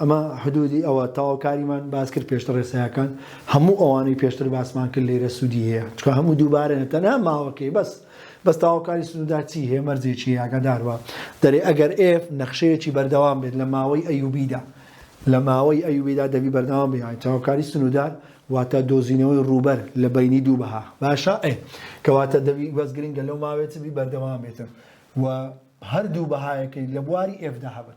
ئەمە حدودی ئەوە تەواوکاریمان باس کرد پێشتر ڕێسایەکان هەموو ئەوانەی پێشتر باسمان کرد لێرە سوودی هەیە چکە هەموو دووبارەنە تەنها ماوەکەی بەس بەس تاواکاری سنوودا چی هەیە مەرجێکی یاگەداربە دەرێ ئەگەر ئێف نەخشەیەکی بەردەوام بێت لە ماوەی ئەیوبیدا لە ماوەی ئەیوبیدا دەبی بەردەوام بیان تاواکاری سنوودار واتە دۆزینەوەی ڕوبەر لە بینی دوو بەها باشە ئێ کەواتە دەبی بەس گرنگە لەو ماوێت بی بەردەوام بێتن و هەردوو بەهایەکەی لە بواری ئێفدا هەبن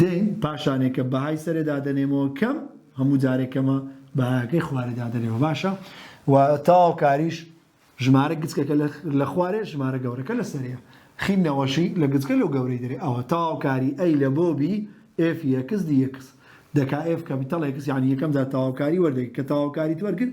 دەین پاشانێ کە بەهای سەرێ دادەنێمەوە کەم هەموو جارێ کەمە بەهاکەی خوارێ دادەنێمەوە باشە و تاو کاریش ژمارە گچکەکە لە خوارێ ژمارە گەورەکە لە سەرەیە خین نەوەشی لە گچکە لەو گەورەی دەرێ ئەوە تاوکاری ئەی لە بۆ بی ئف یەکس دی یەکس دەکا ئف کەپیتەڵ یەکس یعنی یەکەم جار تاوکاری وەردەگری کە تاوکاری وەرگرت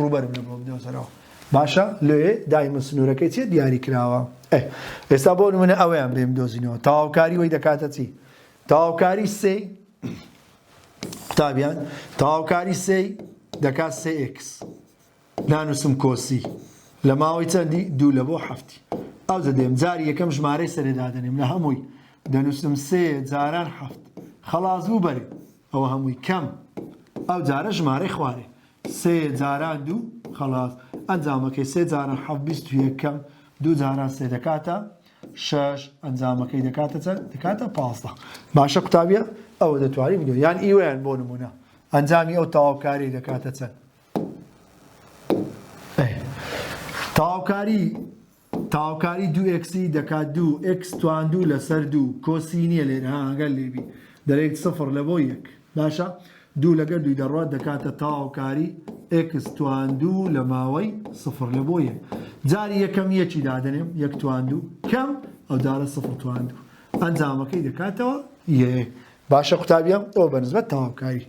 ڕووبەرم لە بۆ بدۆزەرەوە باشە لێ دایمە سنوورەکەی چێ دیاری کراوە ئە ئێستا بۆ منە ئەویان بێم دۆزینەوە تاواوکاری وی دەکاتە چی تاواوکاری سێ قوتابیان تاواوکاری سێ دەکات سێکس نانوسم کۆسی لە ماوەی چەندی دوو لە بۆ هەفتی ئەو دەدەێم جاری یەکەم ژمارەی سەرێدادەنێم لە هەمووی دەنووسم سێ جاران هەفت خەڵاز بوو بەرێ ئەوە هەمووی کەم ئەو جارە ژمارە خوارێ سێ جاران دوو خەڵاس. ئەنجامەکەی سێ جاران حەفت بیست و یەک کەم دوو جاران سێ دەکاتە شەش ئەنجامەکەی دەکاتە چەند دەکاتە پازدە باشە قوتابیە ئەوە دەتوانین بدۆ یان ئیوەیان بۆ نمونە ئەنجامی ئەو تەواوکاری دەکاتە چەند تەواوکاری تاوکاری دوو ئێکسی دەکات دوو ئێکس تواندوو لەسەر دوو کۆسینیە لێرە ها گەر لێبی دەرێیت سفر لەبۆ یەک باشە دوو لەگە دووی دەڕوات دەکاتە تاوکاری ئێکس تواندوو لە ماوەی سفر لە بۆ یەک جاری یەکەم یەکی دادنێم یەک تواندوو کەم ئەو جارە سفر تواندوو ئەنجامەکەی دەکاتەوە یە باشە قوتابیان ئەو بەنسبەت تاوکاری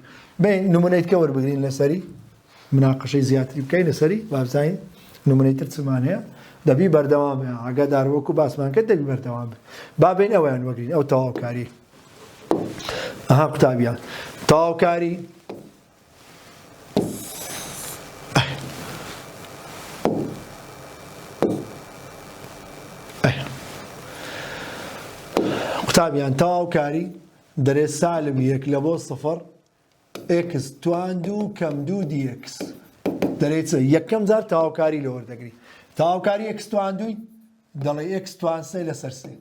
بین نمونەیتکە وەربگرین لەسەری مناقەشەی زیاتری بکەین لەسەری بابزانین نمونەی تر چمان هەیە دەبی بەردەوام بێ ئاگادار وەکو باسمان کرد دەبی بەردەوام بێ بابین ئەویان وەگرین ئەو تەواوکاری ئەها قوتابیان تەواوکاری قوتابیان تەواوکاری دەرێ سالم یەک لە بۆ سفر ئێکس توان دوو کەم دوو دی ئێکس دەرێ چ یەکەم جار تاوکاری لە وەردەگری تاوکاری ئێکس توان دووی دەڵێ ئێکس توان سێ لەسەر سێ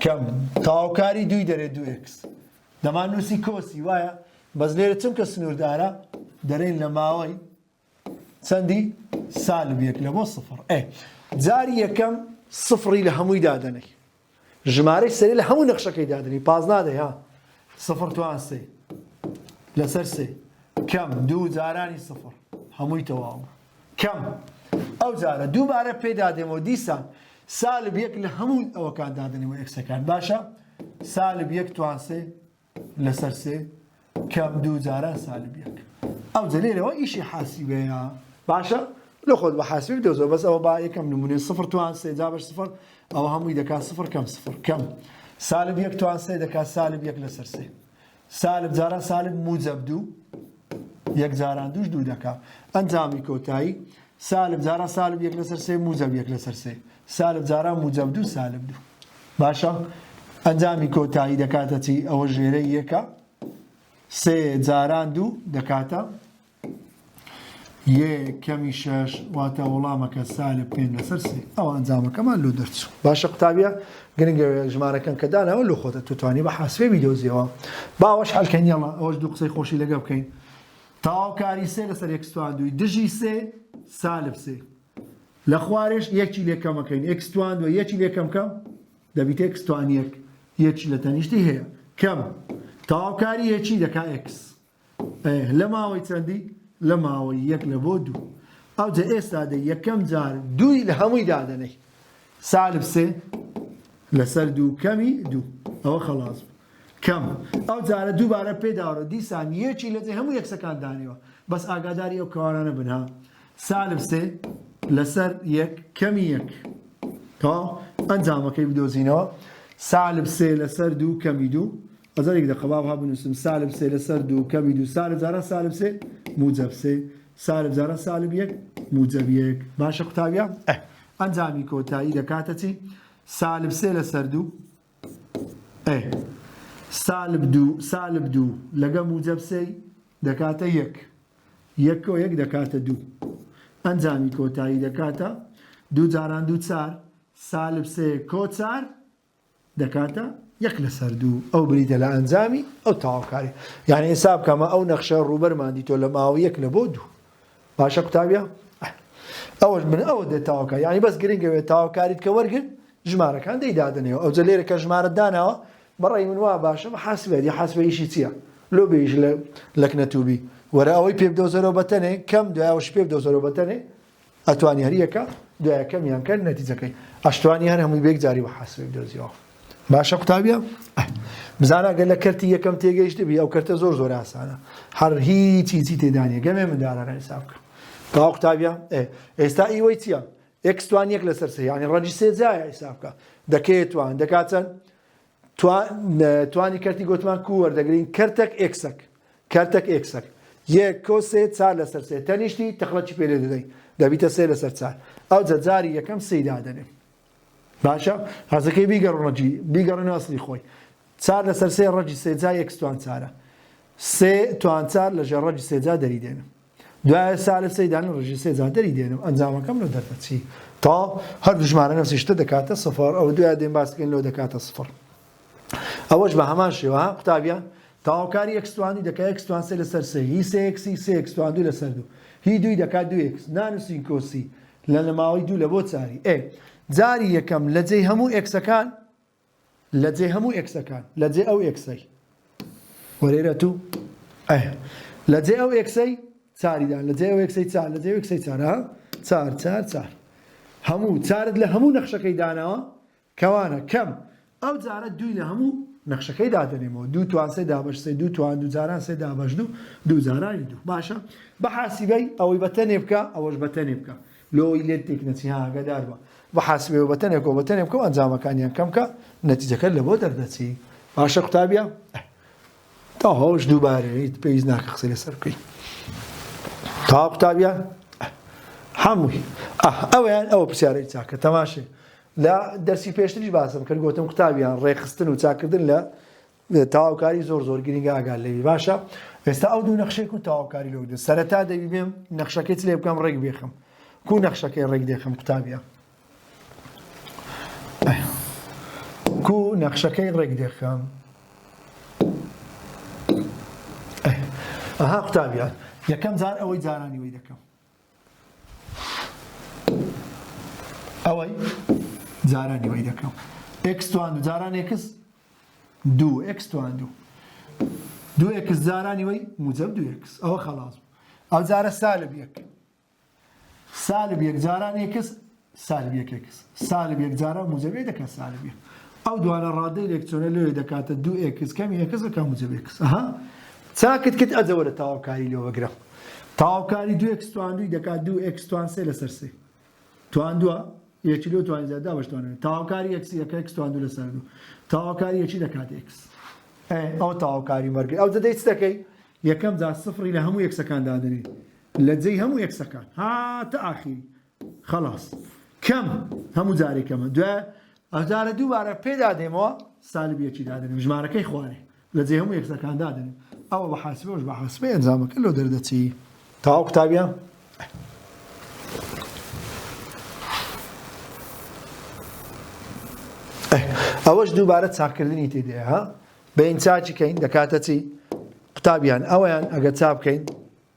کەم تاوکاری دووی دەرێ دوو ئێکس دەمان نووسی کۆسی وایە بەس لێرە چونکە سنووردارە دەرێن لە ماوەی چەندی؟ سالب یەک لە بۆ سفر ئێ جاری یەکەم سفری لە هەمووی دادەنەی ژمارەی سەری لە هەموو نەخشەکەی دادنی پاز نادەی ها سفر توان سێ لەسەر سێ کەم دوو جارانی سفر هەمووی تەواو کەم ئەو جارە دووبارە پێدا دێمەوە دیسان سالب یەک لە هەموو ئەوەکان دادنی و ئەکسەکان باشە سالب یەک توانسێ لەسەر سێ کەم دوو جاران سالب یەک ئەوجە لێرەوە ئیشی حاسیبەیە باشە لە خۆت بە حاسبی دەزەوە بەس ئەوە با یەکەم نمونێ سفر توان سێ جا بەش سفر ئەوە هەمووی دەکات سفر کەم سفر کەم سالب یەک توان سێ دەکات سالب یەک لەسەر سێ سالب جاران سالب موجب دوو یەک جاران دوش دوو دەکات ئەنجامی کۆتایی سالب جاران سالب یەک لەسەر سێ موجب یەک لەسەر سێ سالب جاران بوو جەب دوو سالب دوو باشە ئەنجامی کۆتایی دەکاتە چی ئەوە ژێرە یەکە سێ جاران دوو دەکاتە یە کەمی شەش واتە وەڵامەکە سالب پێ لەسەر سێ ئەو ئەنجامەکەمان لۆ دەرچوو باشە قوتابە گرنگە ژمارەکەن کە داناوە لە خۆتە توتوانی بە حاسێ ویدۆزیەوە باوەش حلکەنیەڵە ئەوەش دوو قسەی خۆشی لەگە بکەین تاواو کاری سێ لەسەر یەکستوان دووی دژی سێ سالب سێ لە خوارێش یەکی لێ کەمەکەین ئێکس توان دووە یەکی لێ کەم کەم دەبیت ئێکس توان یەک یەکی لە تەنیشتی هەیە کەم تەواوکاری یەکی دەکا ئێکس لە ماوەی چەندی لە ماوەی یەک لە بۆ دوو ئەوجە ئێستا دە یەکەم جار دووی لە هەمووی دادەنەی سالب سێ لەسەر دوو کەمی دوو ئەوە خەڵاز بوو کەم ئەو جارە دووبارە پێداڕە دیسان یەکی لەجێ هەموو یەکسەکان دانیوە بەس ئاگاداری ئەو کەوانانە بنها سالب سێ لەسەر یەک کەمی یەک تەواو ئەنجامەکەی بدۆزینەوە سالب سێ لەسەر دوو کەمی دوو ئەزارێک دە قەباب ها بنووسم سالب سێ لەسەر دوو کەمی دوو سالب جاران سالب سێ موجب سێ سالب جاران سالب یەک موجب یەک باشە قوتابیان ئەنجامی کۆتایی دەکاتە چی سالب سێ لەسەر دوو ئەێ سالب دوو سالب دوو لەگە موجب سێی دەکاتە یەک یەک و یەک دەکاتە دوو ئەنجامی کۆتایی دەکاتە دوو جاران دوو چار سالب سێ کۆ چار دەکاتە یەک لەسەر دوو ئەو بریتە لە ئەنجامی ئەو تاواکاری یعنی حساب کەمە ئەو نەخشە ڕوبەرماندی تۆ لە ماوە یەک لە بۆ دوو باشە قوتابیە ئەوەش من ئەوە دێت تاوکە یعنی بەس گرنگە وێت تاوکاریت کە وەرگرت ژمارەکان دەی دادنێەوە ئەوجە لێرە کە ژمارە داناوە بەڕی من وا باشە بە حاسبێت یا حاسبەیشی چییە لۆ بێژ لە لەکنەتوبی وەرە ئەوەی پێ بدەوزەرەوە بەتەنێ کەم دوایەوەش پێ بدەوزەرەوە بەتەنێ ئەتوانی هەریەکە دوایەکەمیان کە نەتیجەکەی ئەشتوانی هەر هەمووی بێک جاری بە حاسبێک دۆزیەوە باشە قوتابیە بزانە گەر لە کەرتی یەکەم تێگەیشتبی ئەو کەرتە زۆر زۆر ئاسانە هەر هیچی چی تێدانە گەمێ مندارانە حساب بکە تا قوتابیە ئێستا ئیوەی چییە ئەکسوان یەک لەسەر سیانی ڕەنجی سێجایە حساب بکە دەکەێت توان دەکات چەند توانی کەرتی گوتمان کو وەردەگرین کەرتەک ئکسەک کەرتەک ئکسەک یەک کۆ سێ چار لەسەر سێ تەنیشتی تەخڵەتی پێێ دەدەین دەبیتە سێ لەسەر چار ئەو جەجاری یەکەم سیدا دەنێ باشە هەزەکەی بیگە ڕەجی بیگەڕێن ئەسلی خۆی چار لەسەر سێ ڕەجی سێجا یەک توان چارە سێ توان چار لە ژێ ڕەجی سێجا دەری دێنم دوایە سا لە سەیدان ڕژی سێجا دەری دێنم ئەنجامەکەم لە دەردەچی تا هەر دژمارە نەسیشتە دەکاتە سفر ئەو دوای دێن باسکەین لۆ دەکاتە سفر ئەوەش بە هەمان شێوە ها قوتابیە تەواوکاری ئێکس توان دوو دەکا ئێکس توان سێ لەسەر سێ هی سێ ئێکسی سێ ئێکس توان دوو لەسەر دوو هی دووی دەکات دوو ئێکس نانووسین کۆسی لە نەماوەی دوو لە بۆ چاری ئێ جاری یەکەم لە جێی هەموو ئێکسەکان لە جێ هەموو ئێکسەکان لە جێ ئەو ئێکسەی وەرێرە تو ئەه لە جێ ئەو ئێکسەی چاریدان لە جێ ئەو ئێکسەی چار لە جێ ئێکسەی چارە چار چار چار هەموو چارت لە هەموو نەخشەکەی داناوە کەوانە کەم، ئەو جارە دووی لە هەموو نەخشەکەی دادەنێمەوە، دوو توان سێ دابەش سێ دوو توان دوو جاران سێ دابەش دوو دوو جارانی دوو. باشە بە حاسیبەی ئەوەی بە تەنێ بکە ئەوەش بە تەنێ بکە لۆی لێت تێک نەچی ها ئاگادار بە بە حاسیبەی و بە تەنێکەوە بە تەنێ بکە و ئەنجامەکانیان کەم کە نەتیجەکەت لە بۆ دەردەچی باشە قوتابیە تاهۆش دووبارەیت پێویست ناکە قسەی لەسەر بکەی تا قوتابیان هەمووی ئەویان ئەوە پرسیارەی چاکە تەماشێ لە دەرسی پێشتریش باسم کرد گوتم قوتابیان ڕێخستن و چاکردن لە تەواوکاری زۆر زۆر گرنگە ئاگال لەوی باشە ئێستا ئەو دوو نەخشێک و تەواوکاری لەو دو سەرەتا دەبی بێم نەخشەکەی لێ بکەم ڕێک بێخم کو نەخشەکەی ڕێک دێخم قوتابیە کو نەخشەکەی ڕێک دێخم ئەها قوتابیان یەکەم جار ئەوەی جارانی وی دەکەم ئەوەی جارانی وەی دەکەم ئکس توان و جاران ئکس دوو ئکس توان دوو دوو ئکس جارانی وەی موجب دوو ئکس ئەوە خەڵاز ئەو جارە سالب یەک سالب یەک جاران ئکس سالب یەک ئێکس سالب یەک جاران موجەبی دەکات سالب یەک ئەو دوانە ڕادەی لێکچۆنە لەوێ دەکاتە دوو ئێکس کەمی ئێکس دەکات موجەبی ئێکس ئەها چاکت کرد ئەجەوە لە تاوکاری لێ وەگرە تاوکاری دوو ئێکس توان دووی دەکات دوو ئێکس توان سێ لەسەر سێ توان دووە یەکی لۆ توانی زیاد دابش توانێت تاوکاری ئێکسی یەکە ئێکس توان دوو لەسەر دوو تاوکاری یەکی دەکات ئێکس ئەو تاوکاری مەرگی ئەو دەدەیت دەکەی یەکەم جا سفری لە هەموو یەکسەکان دادنی لە جێی هەموو یەکسەکان هاتە ئاخیری خەڵاس کەم هەموو جارێک کەمە دوای ئەجارە دووبارە پێدا دێمەوە سالب یەکی دادنم ژمارەکەی خوارێ لە جێ هەموو یەکسەکان دادنم ئەوە بە حاسبەوەش بە حاسبە ئەنجامەکە لۆ دەردەچی تاو قوتابیان ئەوەش دووبارە چاکردنی تێدێ ها بەین چاچی کەین دەکاتە چی قوتابیان ئەویان ئەگە چا بکەین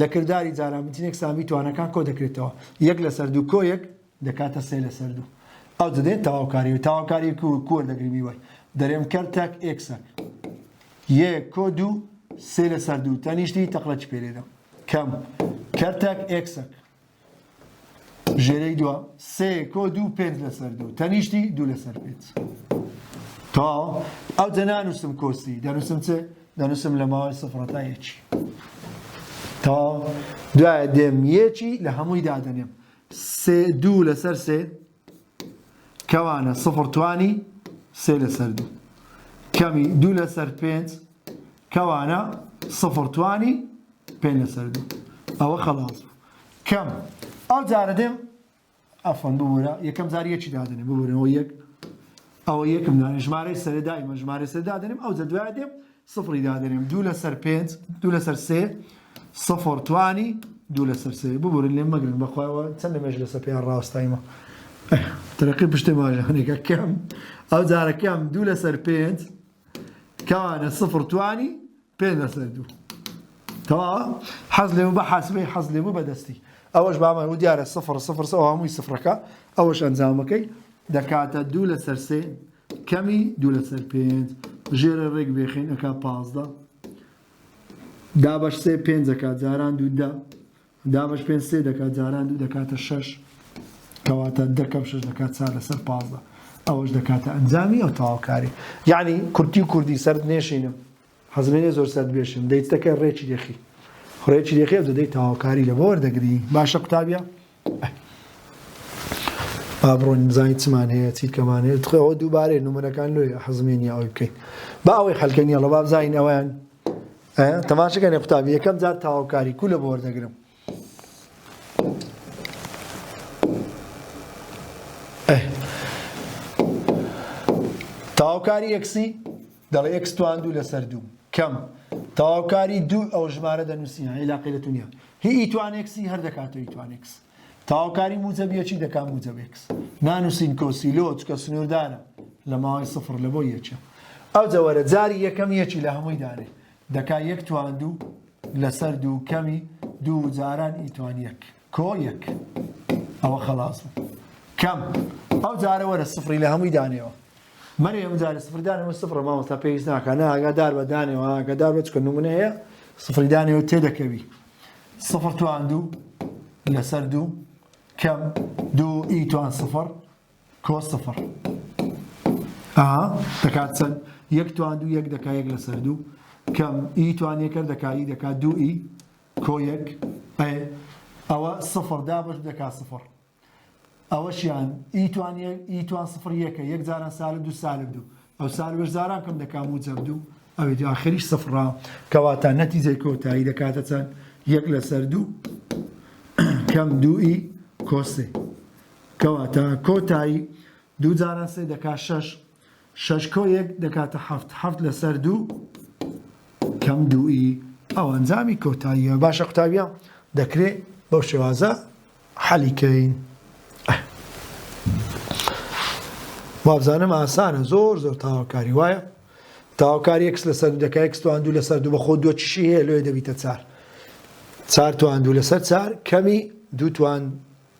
لە کرداری جاران بنچینێک سامی توانەکان کۆ دەکرێتەوە، یەک لەسەر دوو کۆیەک دەکاتە سێ لەسەر دوو. ئەو دەدێت تەواوکاری و تەواوکاری کو کو وەردەگری میوەی. دەرێم کەر تەک ئێکسەک. یەک کۆ دوو سێ لەسەر دوو تەنیشتی تەقلەچ پێ لێ دەم. کەم کەر تەک ئێکسەک. ژێرەی دوا سێ کۆ دوو پێنج لەسەر دوو تەنیشتی دوو لەسەر پێنج تەواو ئەو جە نانووسم کۆسی دەنووسم چ دەنووسم لە ماوەی سفرەتا یەکی تەواو دوایە دێم یەکی لە هەمووی دادەنێم سێ دوو لەسەر سێ کەوانە سفر توانی سێ لەسەر دوو کەمی دوو لەسەر پێنج کەوانە سفر توانی پێ لەسەر دوو ئەوە خەڵاز کەم ئەو جارە دێم ئەفەن ببوورە یەکەم جار یەکی دادنێ ببوورەوە یەک ئەوە یەکم دانێ ژمارەی سەرێ دایمە ژمارە سەر دادنێم ئەو جە دوای دێم سفری دادەنێم دوو لەسەر پێنج دوو لەسەر سێ سفر توانی دوو لەسەر سێ ببورن لێم مەگرن بەخوایەوە چەند لە مێژ لەسەر پێیان ڕاستایمە ترقی پشتێ ماژانێکە کەم ئەو جارەکەم دوو لەسەر پێنج کەوانە سفر توانی پێ لەسەر دوو تەوا حەز لێ بە حەسبەی حەز لێ بوو بەدەستی ئەوەش بامان و دیارە سفر سفر سەوە هەمووی سفرەکە ئەوەش ئەنجامەکەی دەکاتە دوو لەسەر سێ کەمی دوو لەسەر پێنج. ژێرە ڕێک بێخین ئەکا پازدە. دابەش سێ پێنج دەکات جاران دوو دە. دابەش پێنج سێ دەکات جاران دوو دەکاتە شەش. کەواتە دەکەم شەش دەکات چار لەسەر پازدە. ئەوەش دەکاتە ئەنجامی ئەو تەواوکاری. یعنی کورتی و کوردی سەرت نێشینم. حەزلێنێ زۆر سەرت بێشێم دەیت دەکەی ڕێکی دێخی ڕێکی دێخی ئەو دەدەی تەواوکاری لە بۆر دەگری باشە قوتابە با بڕۆین بزانین چمان هەیە چی کەمان هەیە تخەوە دووبارەی نمونەکان لۆی حەزمێنی ئەوی بکەین با ئەوەی حلکەنیە ڵە با بزانین ئەویان تەماشەکەێ قوتابی یەکەم جار تەواوکاری کو لە بۆر دەگرم تەواوکاری ئەکسی دەڵێ ئەکس توان دوو لەسەر دوو کەم تەواوکاری دوو ئەو ژمارە دەنووسین عیلاقی لە دنیا هی ئیتوانێکسی هەر دەکاتەوە ئیتوانێکس تاوکاری موجەبیەکی دەکات موجەبێکس نانووسین کۆسی لۆ چکە سنووردارە لە ماوەی سفر لە بۆ یەکە ئەو جەوەرە جاری یەکەم یەکی لە هەمووی دارێ دەکا یەک توان دوو لەسەر دوو کەمی دوو جاران ئی توان یەک کۆ یەک ئەوە خەڵاس بوو کەم ئەو جارە وەرە سفری لە هەمووی دانێەوە مەری ئەم جارە سفردانەوە سفرە مامۆستا پێویست ناکە نا ئاگادار بە دانێەوە ئاگادار بە چکە نمونە هەیە سفری دانێەوە تێدەکەوی سفر توان دوو لەسەر دوو کەم دوو ئی توان سفر کۆس سفر ئەها دەکات چەند یەک توان دوو یەک دەکا یەک لەسەر دوو کەم ئی توانیەکە دەکا ئی دەکا دوو ئی کۆ یەک ئەی ئەوە سفر دابش دەکا سفر ئەوەشیان ئی توانیە ئی توان سفر یەکە یەک جاران سالب دوو سالب دوو ئەو سالبش جاران کەم دەکا موجب دوو ئەوی دو ئاخریش سفرا کەواتە نەتیجەی کۆتایی دەکاتە چەند یەک لەسەر دوو کەم دوو ئی کۆسێ کەواتە کۆتایی، دوو جاران سێ دەکا شەش، شەش کۆ یەک دەکاتە حەفت، حەفت لەسەر دوو کەم دووی ئەو ئەنجامی کۆتاییە. باشە قوتابیان دەکرێ بەو شێوازە حەلی کەین. وابزانم ئاسانە زۆر زۆر تاواکاری وایە تاواکار یەکس لەسەر دەکە یەکس توان دوو لەسەر دوو بەخۆ دووە چشی هەیە لێ دەبیتە چار چار توان دوو لەسەر چار کەمی دوو توان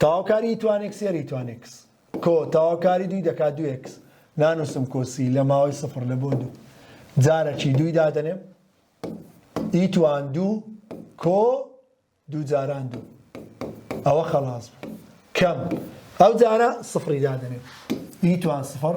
تەواوکاری توان ئێکس یەری توان ئێکس کۆ تەواوکاری دووی دەکات دوو ئێکس نانووسم کۆسی لە ماوەی سفر لە بۆ دوو جارەکی دووی دادەنێم ئی توان دوو کۆ دوو جاران دوو ئەوە خەڵاز بوو کەم ئەو جارە سفری دادەنێم ئی توان سفر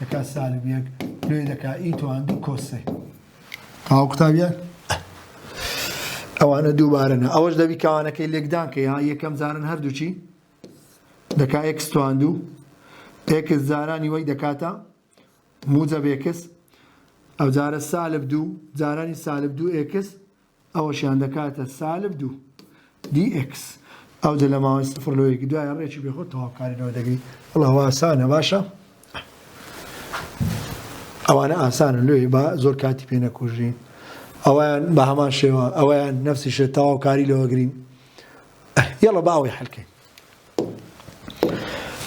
دەکا سالم یەک نوێ دەکا ئی توان دوو کۆسێ. تەواو قوتابیان ئەوانە دووبارە نا ئەوەش دەبی کاوانەکەی لێکدان کە یا یەکەم جارن هەردووچی دەکا ئێکس تواندوو ئێکس جارانی وەی دەکاتە موجە بێکس ئەو جارە سالب دوو جارانی سالب دوو ئێکس ئەوەشیان دەکاتە سالب دوو دی ئێکس. ئەوجە لە ماوەی سفر لۆ یەکی دوایە ڕێکی بێ خۆ تەواوکاری لەوە دەگری. وەڵا ئەوە ئاسانە باشە. ئەوانە ئاسانە لۆی با زۆر کاتی پێ نەکوژین. ئەویان بە هەمان شێوە ئەویان نفسی شێ تەواوکاری لەوە گرین. یەڵە با ئەوەی حەلکەین.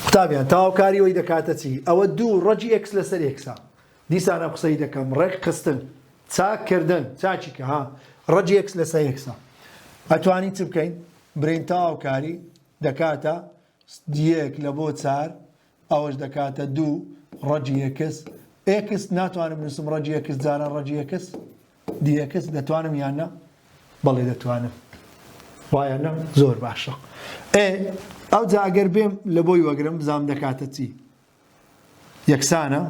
قوتابیان تەواوکاری ئەوی دەکاتە چی؟ ئەوە دوو ڕەجی ئێکس لەسەر ئێکسە. دیسان ئەم قسەی دەکەم ڕێک خستن چاک کردن چاکی کە ها ڕەج یەکس لە سە یەکسە ئەتوانین چ بکەین برین تاو کاری دەکاتە دیەک لە بۆ چار ئەوەش دەکاتە دوو ڕەجی یەکس ئێکس ناتوانم نووسم ڕەجی یەکس جارە ڕەجی یەکس دیەکس دەتوانم یاننا بەڵێ دەتوانم وایە نە زۆر باشە ئێ ئەو جاگەر بێم لە بۆی وەگرم بزانام دەکاتە چی یەکسانە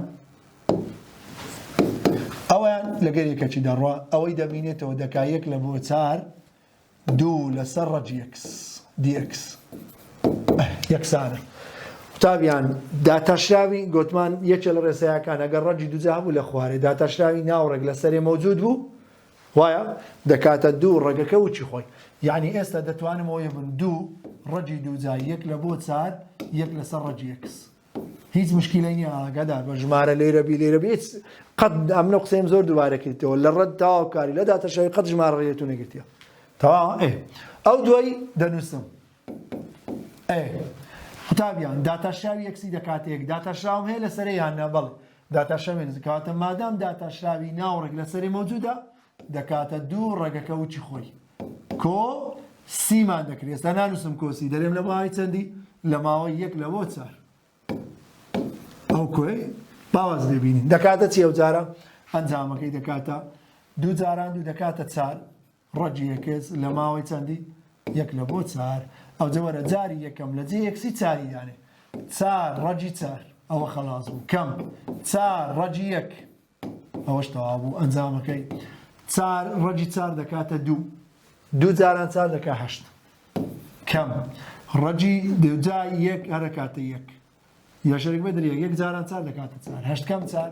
ئەویان لەگەر یەکەکی دەڕوا ئەوەی دەمینێتەوە دەکا یەک لە بۆ چار دوو لەسەر ڕەج یەکس دیەکس یەکسانە قوتابیان داتاشراوی گوتمان یەکێ لە ڕێسایەکان ئەگەر ڕەجی دوجا بوو لە خوارێ داتاشراوی ناوڕێک لەسەرێ مەوجود بوو وایە دەکاتە دوو ڕەگەکە وچی خۆی یعنی ئێستا دەتوانم ئەوەیە بن دوو ڕەجی دووجا یەک لە بۆ چار یەک لەسەر ڕەجی یەکس هیچ مشکیلە نیە ئاگادار بە ژمارە لێرە بی لێرە بێت قەت ئەمنە قسەیم زۆر دووارەکەیتەوە لە ڕەت تاواکاری لە داتەشەوی قەت ژمارە ڕێتو نەگرتیە تەوا ئەو دوای دەنووسم ئەه. قوتابیان، داتاشراوی یەکسی دەکاتێک داتاشراوم هەیە لەسەرێ یان نا؟ بەڵێ. داتاشراوی یەکسی، کەواتە مادام داتاشراوی ناوڕێک لەسەرێ مەوجودە، دەکاتە دوو ڕەگەکە وچی خۆی. کۆ سی مان دەکرێت ئێستا نانووسم کۆسی دەرێم لە باوەی چەندی لە ماوەی یەک لە بۆ چار ئەو کۆی باواز دەبینین دەکاتە چی ئەو جارە ئەنجامەکەی دەکاتە دوو جاران دوو دەکاتە چار ڕەگی یەکس لە ماوەی چەندی؟ یەک لە بۆ چار ئەوجە وەرە جاری یەکەم لە جێ یەکسی چاری دانێ چار ڕەگی چار ئەوە خەڵاز بوو کەم چار ڕەگی یەک ئەوەش تەوا بوو ئەنجامەکەی چار ڕەگی چار دەکاتە دوو دوو جاران چار دەکە هەشت کەم ڕەجی دوجای یەک هەرەکاتە یەک یەشێک بدرێ یەک جاران چار دەکاتە چار هەشت کەم چار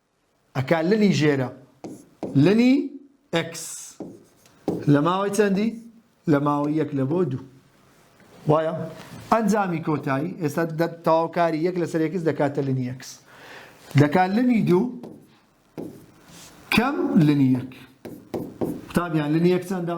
ئەکا لنی ژێرە لنی ئێکس لە ماوەی چەندی لە ماوەی یەک لە بۆ دوو وایە ئەنجامی کۆتایی ئێستا تەواوکاری یەک لەسەر یەکس دەکاتە لنی یەکس دەکات لنی دوو کەم لنی یەک قوتابیان لنی یەک چەندە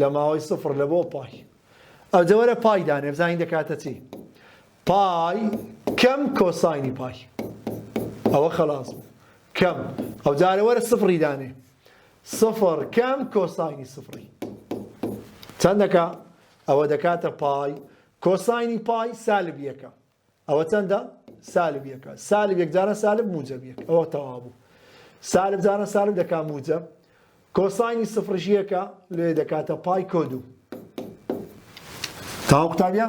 لە ماوەی سفر لە بۆ پای. ئەوجە وەرە پای دانێ بزانین دەکاتە چی پای کەم کۆساینی پای ئەوە خلاص بوو کەم ئەو جارە وەرە سفری دانێ سفر کەم کۆساینی سفری چەندەکە ئەوە دەکاتە پای کۆساینی پای سالب یەکە ئەوە چەندە سالب یەکە سالب یەکجارە سالب موجب یەک ئەوە تەوابوو سالب جارە سالب دەکا موجب کۆسانی سفرش یەکە لێ دەکاتە پای کۆدو تاو قوتابە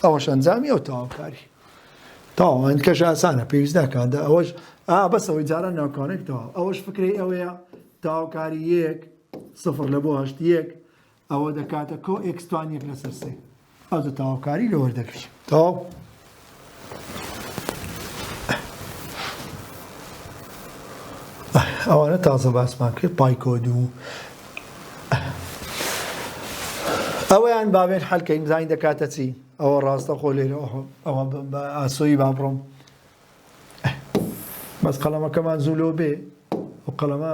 ئەوەش ئەنجامی ئەو تاوکاری تاوان کەش ئاسانە پێویست ناکاتدا ئەوەش ئا بەسەوەی جارە ناوکانێکەوە ئەوەش فکری ئەوەیە تاوکاری یەک سفر لە بۆ هەشت یەک ئەوە دەکاتە کۆ ئێکس توان یەک لەسەر سێ ئەوجە تەواوکاری لە وەردەگری تەواو ئەوانە تازە باسمان کرد پایکۆد و ئەوەیان بابێت حەلکەین زانین دەکاتە چی ئەوە ڕاستە خۆ لێرە ئەوە بە ئاسۆی با بڕۆم بەس قەڵەمەکەمان زوو لۆ بێ و قەڵەمە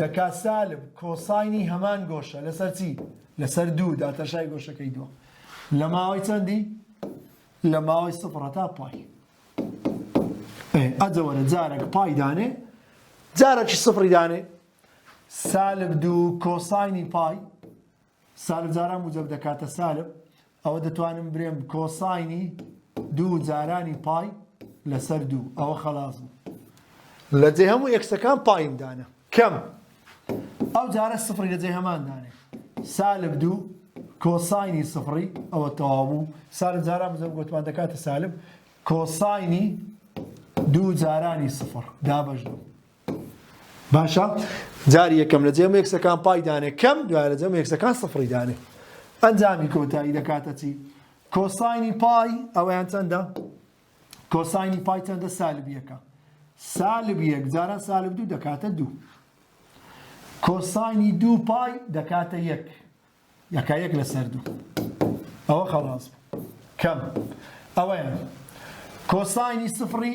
دەکا سالب کۆساینی هەمان گۆشە لەسەر چی لەسەر دوو داتەشای گۆشەکەی دووە لە ماوەی چەندی لە ماوەی سفر هەتا پای ئەجەوەرە جارێک پای دانێ جارێکی سفری دانێ سالب دوو کۆساینی پای سالب جاران موجەب دەکاتە سالب ئەوە دەتوانم برێم کۆساینی دوو جارانی پای لەسەر دوو ئەوە خلاص بوو لە جێ هەموو ئێکسەکان پایم دانە کەم ئەو جارە سفری لە جێ هەمان دانێ سالب دوو کۆساینی سفری ئەوە تەواو بوو سالب جاران موجەب گوتمان دەکاتە سالب کۆساینی دوو جارانی سفر دابەش دوو باشە جاری یەکەم لە جێم یەکسەکان پای دانێ کەم دوای لە جەم یەکسەکان سفری دانێ ئەنجامی کۆتایی دەکاتە چی کۆساینی پای ئەویان چەندە کۆساینی پای چەندە سالبیەکە سالب یەک جاران سالب دوو دەکاتە دوو کۆساینی دوو پای دەکاتە یەک یەکە یەک لەسەر دوو ئەوە خەڵاز کەم ئەوەیان کۆساینی سفری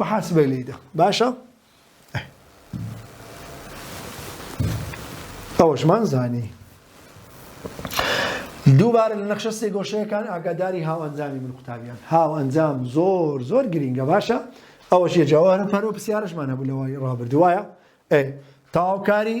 محاسبەی لێی دا باشە ئەوەشمان زانی دووبارە لە نەخشە سێگۆشەیەکان ئاگاداری هاو ئەنجامی من قوتابیان هاو ئەنجام زۆر زۆر گرینگە باشە ئەوەش یە جاوارە پەرۆ پرسیارشمان هەبوو لەوەی ڕابردوایە ئەی تاوکاری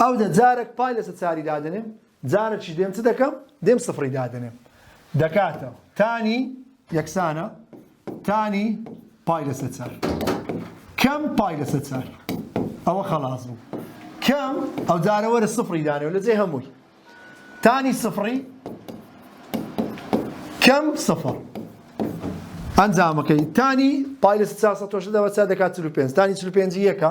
ئەو دە جارەک پای لەسە چاری دادەنێم جارەکیش دێم چ دەکەم دێم سفری دادەنێم دەکاتەوە تانی یەکسانە تانی پای لەسە چار کەم پای لەسە چار ئەوە خەڵاز بوو کەم ئەو جارەوەرە سفری دانێ لە جێ هەمووی تانی سفری کەم سفر ئەنجامەکەی تانی پای لە 400 دەوە چا دەکات 45 تانی 45 یەکە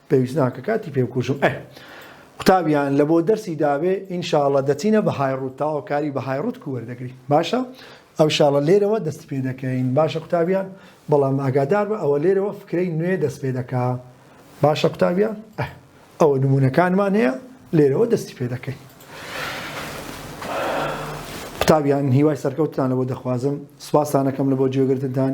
پێویست ناکە کاتی پێ بکوژم ئەه. قوتابیان لە بۆ دەرسی دابێ ان شاء اللە دەچینە بە های ڕووت تاوە کاری بە های ڕووت کو وەردەگری باشە ئەو شاڵە لێرەوە دەست پێ دەکەین باشە قوتابیان بەڵام ئاگادار بە ئەوە لێرەوە فکرەی نوێ دەست پێ دەکا باشە قوتابیان ئەه ئەوە نمونونەکانمان هەیە لێرەوە دەستی پێ دەکەین قوتابیان هیوای سەرکەوتتان لە بۆ دەخوازم سوپاسانەکەم لە بۆ جێگرتدان